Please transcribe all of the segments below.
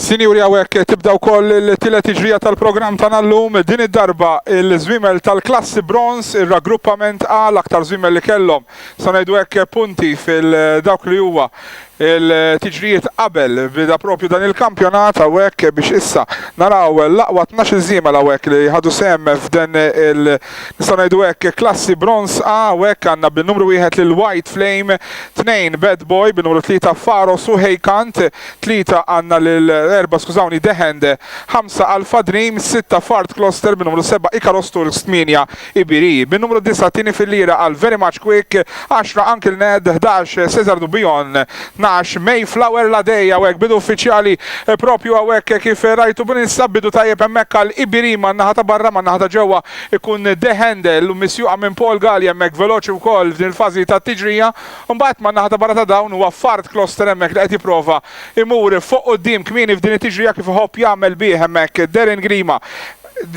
Sinjuri għawek tibdaw koll il-tila tiġrija tal-program ta' nallum din id-darba il-zwimel tal-klassi bronz il-raggruppament għal aktar zwimel li kellhom sanajdu hekk punti fil-dawk li huwa Il-tiġrijiet qabel beda proprju dan il-kampjonat hawnhekk biex issa naraw l-aqwa tnax-il żiemel hawnhekk li ħadu sehem f'din il nistgħu ngħidu hekk klassi bronz A hawnhekk għandna bin-numru wieħed lil White Flame, tnejn Bad Boy, bin-numru tlieta Pharos u Heykant, tlieta għandna lil erba' skużawni The Hand, ħamsa Alpha Dream, sitta Fard Closter, bin-numru seba' Icarus Turks, tmienja Ibiri, bin-numru disgħa t-tieni fil-lira għal Very Much Quick, għaxra Uncle Ned, ħdax Cesar Du Bion, tnax Mayflower La Day, hawnhekk bidu uffiċjali proprju hawnhekk kif rajtu bninsab bidu tajjeb hemmhekk għal Ibiri man-naħa ta' barra man-naħa ta' ġewwa jkun De Handel misjuqa minn Paul Galea hemmhekk veloċi wkoll f'din il-fażi tat-tiġrija u mbagħad man-naħa ta' barra ta' dawn huwa Fard Closter hemmhekk li qed jipprova jmur fuq quddiem kmieni f'din it-tiġrija kif iħobb jagħmel bih hemmhekk Darren Grima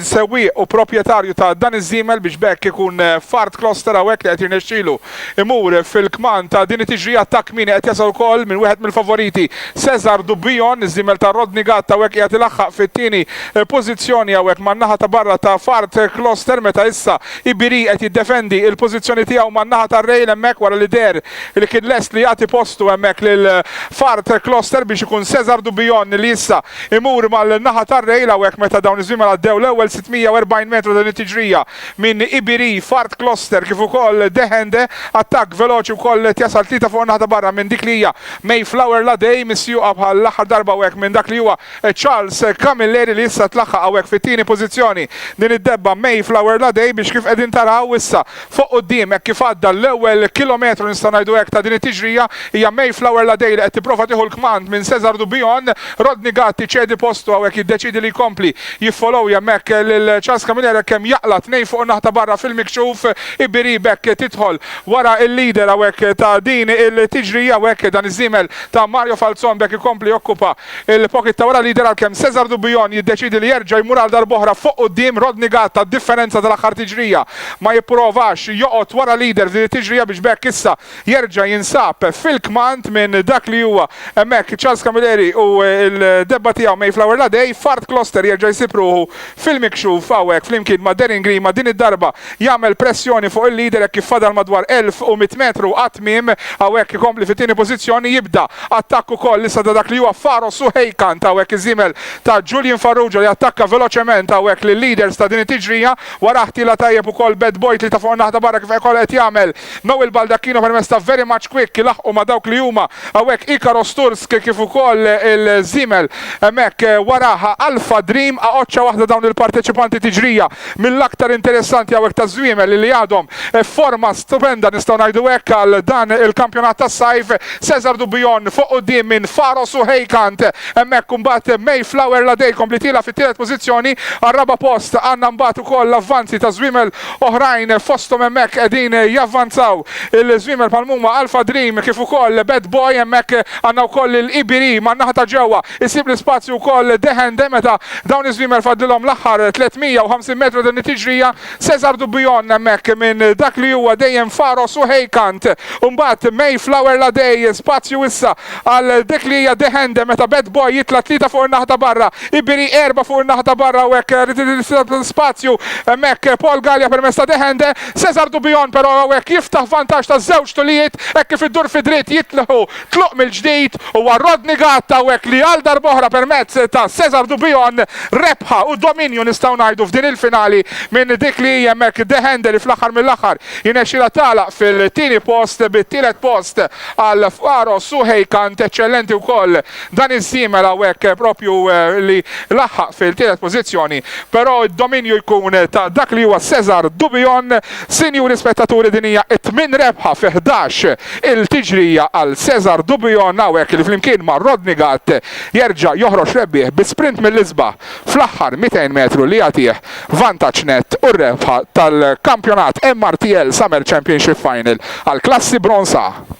sewwieq u proprjetarju ta' dan iż-żiemel biex b'hekk ikun f'art kloster hawnhekk li qed jirnexxilu imur fil-kmand ta' din it-tiġrija. Attakk kmieni qed jasal ukoll minn wieħed mill-favoriti Cesar Dubbion. Iż-żiemel ta' Rodney Gatt hawnhekk qiegħed ilaħħaq fit-tieni pożizzjoni hawnhekk man-naħa ta' barra ta' f'art kloster meta issa Ibiri qed jiddefendi il-pożizzjoni tiegħu man-naħa tar-rail hemmhekk wara li deher li kien lest li jagħti postu hemmhekk lil f'art kloster biex ikun Cesar Dubbion li issa Imur mal-naħa tar-Rail hawnhekk meta dawn iż-żwiemel għaddew l-ewwel 640 metru ta' din it-tiġrija minn Ibiri, Fart Kloster kif ukoll Dehende. Attakk veloċi wkoll qed jasal tlieta fuq in-naħa ta' barra minn dik li hija Mayflower Ladei misjuqa bħall-aħħar darba hawnhekk minn dak li huwa Charles Camilleri li issa tlaħħaq hawnhekk fit-tieni pożizzjoni din id-debba Mayflower Ladei biex kif qegħdin taraw issa Fuq quddiem, hekk kif għadda l-ewwel kilometru nistgħu ngħidu hekk ta' din it-tiġrija, hija Mayflower Ladei li qed tipprova tieħu l-kmand minn Cesar Dubion. Rodney Gatt iċedi postu hawnhekk jiddeċiedi li jkompli jiffolowja hemmhekk lil Charles Camilleri hekk kemm jaqla' tnejn fuq in-naħa ta' barra fil-mikxuf. Ibiri b'hekk tidħol wara l-leader hawnhekk ta' din il-tiġrija u hekk dan iż-żiemel ta' Mario Falzon b'hekk ikompli jokkupa Il-pocket ta' wara l-leader għalkemm Cesar Dubujon jiddeċiedi li jerġa' jmur għal darb'oħra fuq quddiem, Rodney Gatt tad-differenza tal-aħħar tiġrija ma jipprovax joqgħod wara l-leader f'din it-tiġrija biex b'hekk issa jerġa' jinsab fil-kmand minn dak li huwa hemmhekk Charles Camilleri u l-debba tiegħu Mayflower Ladei, Fard Kloster jerġa' jsib ruħu Fil-mikxuf, hawnhekk flimkien ma' Darren Grima din id-darba jagħmel pressjoni fuq il-leader hekk kif fadal madwar 1100 metru għat-tmiem, hawnhekk ikompli fit-tieni pożizzjoni, jibda attakk ukoll issa ta' dak li huwa Faro Suheykant, hawnhekk iż-żiemel ta' Julian Farrugia li attakka veloċement hawnhekk lil-leaders ta' din it-tiġrija, warah tilgħa tajjeb ukoll Bad Boy tlieta fuq in-naħa ta' barra kif ikoll qed jagħmel Noel Baldacchino permezz ta' Very Much Quick ilaħħqu ma' dawk li huma hawnhekk Ikaro Stursk kif ukoll il-żiemel hemmhekk warah Alpha Dream a oċċa waħda dawn il-parteċipanti tiġrija mill-aktar interessanti hawnhekk taż-żwiemel li għadhom f'forma stupenda nistgħu ngħidu hekk għal dan il-kampjonat tas-sajf Cesar Dubion fuq quddiem minn Faros u Heikant hemmhekk imbagħad Mayflower Ladej kompli tiela' fit-tielet pożizzjoni għar-raba' post għandna mbagħad ukoll l-avvanzi taż-żwiemel Oħrajn fosthom hemmhekk qegħdin javvanzaw il-żwiemel bħal mhuma Alpha Dream kif ukoll Bad Boy, hemmhekk għandna wkoll lil Ibiri man-naħa ta' ġewwa, isib l-ispazju wkoll Dehende meta dawn iż-żwiemel fadlilhom l-aħħar 350 metru ta' din it-tiġrija, Cesar Dubion hemmhekk minn dak li huwa dejjem Pharos u Heykant u mbagħad Mayflower Ladei, spazju issa Għal dik li hija The Hand meta Bad Boy jitla' tlieta fuq in-naħta barra, Ibiri erbgħa fuq in-naħta barra u hekk spazju hemmhekk Paul Galea permezz ta' The Hand, Cesar Dubion però hawnhekk jiftaħ vantaġġ ta' żewġ tulijiet hekk kif iddur fi dritt jitlħu tluq mill-ġdid huwa Rodney Gatt hawnhekk li għal darb'oħra permezz ta' Cesar Dubion rebħa u dominju nistgħu ngħidu f'din il-finali minn dik li hija hemmhekk The Hand li fl-aħħar mill-aħħar jirnexxilha tagħlaq fil-tieni post bit-tielet post għal Pharos u Hey kant eċċellenti wkoll dan iż-żiemel hawnhekk proprju li laħħaq fil-tielet pożizzjoni però d-dominju jkun ta' dak li huwa Cesar Dubion. Sinjuri spettaturi din hija t-tmien rebħa fi ħdax il tiġrija għal Cesar Dubion hawnhekk li flimkien ma' Rodney Gatt jerġa' joħroġ rebbieħ bi sprint mill-isbaħ fl-aħħar 200 metru li jagħtih vantaġġ nett u r-rebħa tal-kampjonat MRTL Summer Championship Final għall-klassi Bronze A.